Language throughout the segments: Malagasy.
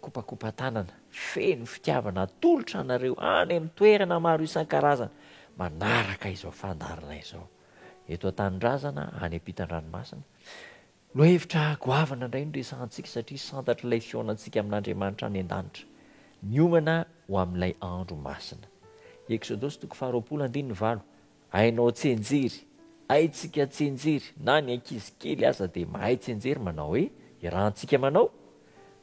kopakopan-tanana feno fitiavana atolotra anareo any amin'ny toerana maro isan-karazany manaraka izao fandaharana izao. Eto an-tanindrazana, any am-pitan-dranomasina, no hevitra goavana indray no resahantsika satria santatr'ilay fihaonantsika amin'Andriamanitra any an-danitra, miomana ho amin'ilay andro masina. Eksodosy toko faharoapolo andininy valo. Hainao tsinjery, haintsika tsinjery, na ny ankizy kely aza dia mahay tsinjery manao hoe irahantsika manao,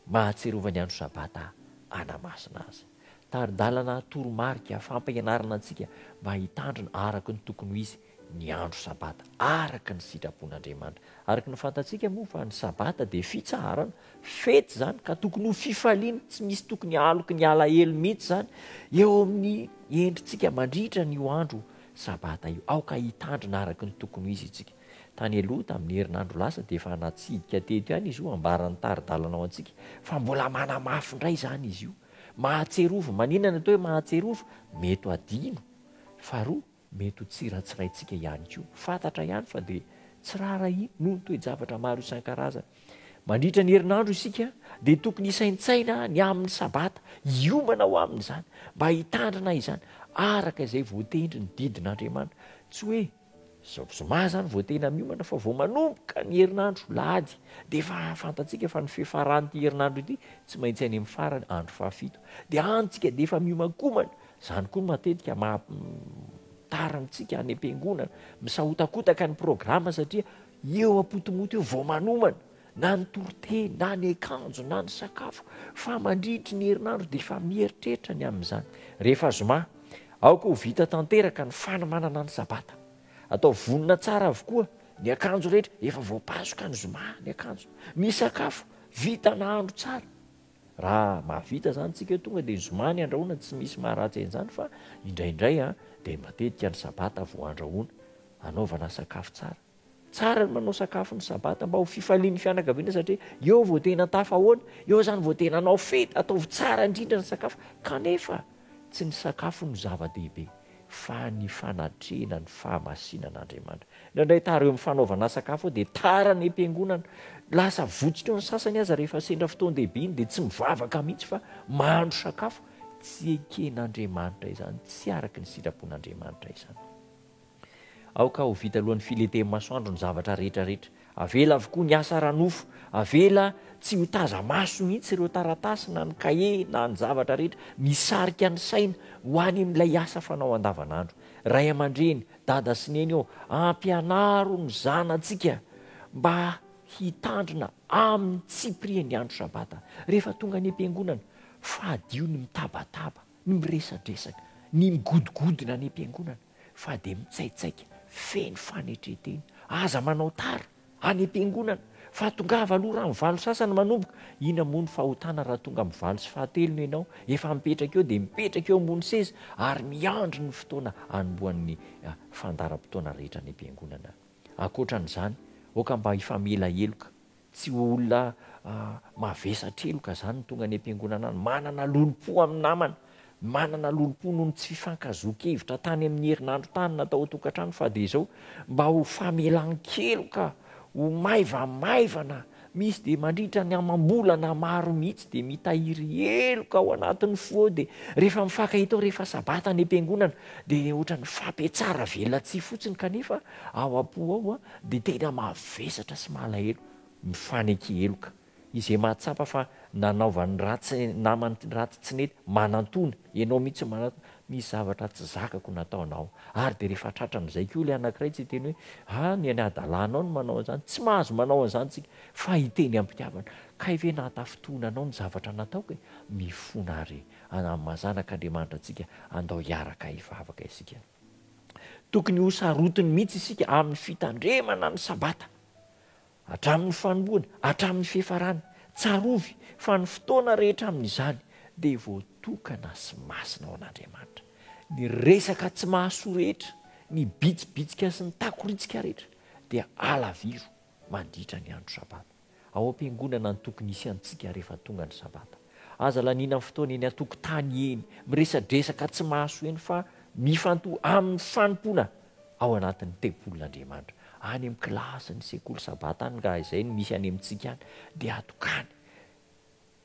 mahatsiarova ny andro sabata anamasina azy. Tari-dalana toromarika fampianarana antsika mba hitandrina araka ny tokony ho izy ny andro sabata araka ny sitrapon'Andriamanitra. Araka ny fantatsika moa fa ny sabata dia fitsaharana Fety izany ka tokony ho fifaliana, tsy misy tokony haloky ny alahelo mihitsy izany eo amin'ny endritsika mandritra an'io andro sabata io. Aoka hitandrina araka ny tokony ho izy isika. Tany aloha, tamin'ny herinandro lasa, dia efa natsidika teto ihany izy io, ambaran'ny tari-dalana ho antsika, fa mbola manamafy indray izany izy io. Mahatsiarovy. Maninona ny atao hoe mahatsiarovy? Mety ho adino. Faharoa. Mety ho tsy ratsiraintsika ihany koa. Fantatra ihany fa dia tsy raharahiana noho ny toe-javatra maro isan-karazany. Mandritra ny herinandro isika dia tokony hisaintsaina ny amin'ny Sabata, hiomana ho amin'izany, mba hitandrina izany araka izay voatendry ny didin'Andriamanitra. Tsy hoe izao zoma izany vao tena miomana fa vao manomboka ny herinandro, Alahady, dia efa fantatsika fa ny fiafaran'ity herinandro ity tsy maintsy any amin'ny farany, andro fahafito, dia any isika dia efa miomankomana, Izany koa no matetika maha tara amintsika any am-piangonana. Misahotakotaka ny programa satria eo am-potomoto eo vao manomana na ny toriteny na ny akanjo na ny sakafo fa mandritry ny herinandro dia efa mieritreritra ny amin'izany. Rehefa zoma, aoka ho vita tanteraka ny fanomanana ny sabata. Atao vonona tsara avokoa ny akanjo rehetra, efa voapasoka ny zoma ny akanjo. Ny sakafo, vita nahandro tsara. Raha mahavita izany tsika tonga dia ny zoma ny andrahoana tsy misy maharatsy an'izany fa indraindray an dia matetika ny sabata vao andrahoana anaovana sakafo tsara. Tsara ny manao sakafo ny sabata mba ho fifalian'ny fianakaviana satria eo vao tena tafahoana, eo izany vao tena hanao fety, ataovy tsara indrindra ny sakafo kanefa tsy ny sakafo no zava-dehibe. fa ny fanatrehana ny fahamasinan'Andriamanitra. Indraindray tara eo amin'ny fanaovana sakafo eo dia tara ny am-piangonana. Lasa votsika eo ny sasany aza rehefa sendra fotoan-dehibe iny dia tsy mivavaka mihitsy fa mahandro sakafo. Tsy eken'Andriamanitra izany, tsy araka ny sitrapon'Andriamanitra izany. Aoka ho vita alohan'ny filentehan'ny masoandro ny zavatra rehetra rehetra. Avela avokoa ny asa ara-nofo, avela tsy ho taza-maso mihitsy ireo taratasy na ny kahie na ny zavatra rehetra misarika ny saina ho any amin'ilay asa fanao andavanandro. Ray aman-dreny, dada sy neny ô, ampianaro ny zanatsika mba hitandrina amin'ny tsipiriany ny andro Sabata. Rehefa tonga any am-piangonana, fadio ny mitabataba, ny miresadresaka, ny migodogodona any am-piangonana. fa dia mitsaitsaika feno fanetren-tena. Aza manao tara any am-piangonana fa tongava aloha raha ny valo sasany manomboka. Inona moa ny fahotana raha tonga amin'ny valo sy fahatelo no ianao? Efa mipetraka eo dia mipetraka eo ambony seza ary miandry ny fotoana hanombohan'ny fandaharam-potoana rehetra any am-piangonana. Ankoatra an'izany, aoka mba hifamela heloka. Tsy ho olona mavesatra heloka izany ny tonga any am-piangonana any. Manana lolompo amin'ny namana, manana lolompo noho ny tsy fifankazoan-kevitra tany amin'ny herinandro tany na tao an-tokantrano fa dia izao mba ho famelan-keloka, ho maivamaivana. Misy dia mandritra ny amam-bolana maro mihitsy dia mitahiry heloka ao anatin'ny fo ao dia rehefa mifankahita ao rehefa sabata any am-piangonana dia ohatran'ny fampihatsara velatsihy fotsiny kanefa Ao am-po ao dia tena mavesatra sy malahelo, mifanenky heloka. Izay mahatsapa fa nanaovany ratsy namany ratsy tsy nety, manantòna, ianao mihitsy manantòna, misy zavatra tsy zakako nataonao. Ary dia rehefa tratran'izay koa ilay anankiray tsy hiteny hoe, ah, ny an'i adalanao no manao an'izany. Tsy mahazo manao an'izany isika, fa hiteny am-pitiavana, kay ve nahatafintohina anao ny zavatra nataoko e? Mifona àry, Amam-mazanak'Andriamanitra antsika, andao hiaraka hivavaka isika. Tokony ho sarotiny mihitsy isika amin'ny fitandremana ny Sabata, hatramin'ny fanombohany, hatramin'ny fiafarany. Tsarovy fa ny fotoana rehetra amin'izany dia voatokana sy masina ho an'Andriamanitra. Ny resaka tsy mahasoa rehetra, ny bitsibitsika sy ny takoritsika rehetra dia halaviro mandritra ny andro Sabata. ao am-piangonana an-tokony hisy antsika rehefa tonga ny sabata. Aza laniana ny fotoana eny an-tokotany eny, miresadresaka tsy mahasoa eny fa mifantoha amin'ny fanompoana ao anatin'ny tempolin'Andriamanitra. Any amin'ny kilasin'ny sekoly sabata any raha izay no misy any amintsika any dia atokany.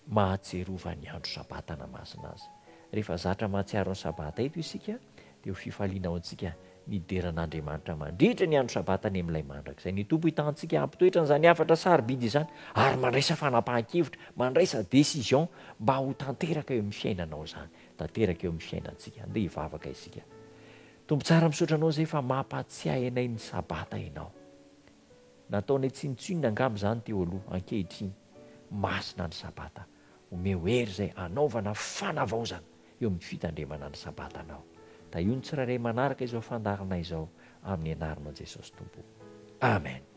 mahatsiarova ny andro Sabata na masina azy. Rehefa zatra mahatsiaro ny Sabata eto isika dia ho fifaliana ho antsika ny hidera an'Andriamanitra mandritra ny andro Sabata any amin'ilay mandrakizay. Ny Tompo hitantsika hampitoetra an'izany hafatra sarobidy izany ary mandraisa fanapahan-kevitra, mandraisa décision mba ho tanteraka eo amin'ny fiainanao izany, tanteraka eo amin'ny fiainantsika. Andeha hivavaka isika. Tompo tsara misaotra Anao izay fa mampatsiahy anay ny Sabata Ianao. Nataonay tsinontsinona angamba izany teo aloha, ankehitriny. Masina ny Sabata, omeo hery izay hanaovana fanavaozana eo amin'ny fitandremana ny Sabatanao. Tahio ny tsirairay manaraka izao fandaharana izao amin'ny anaranao Jesosy Tompo. Amen.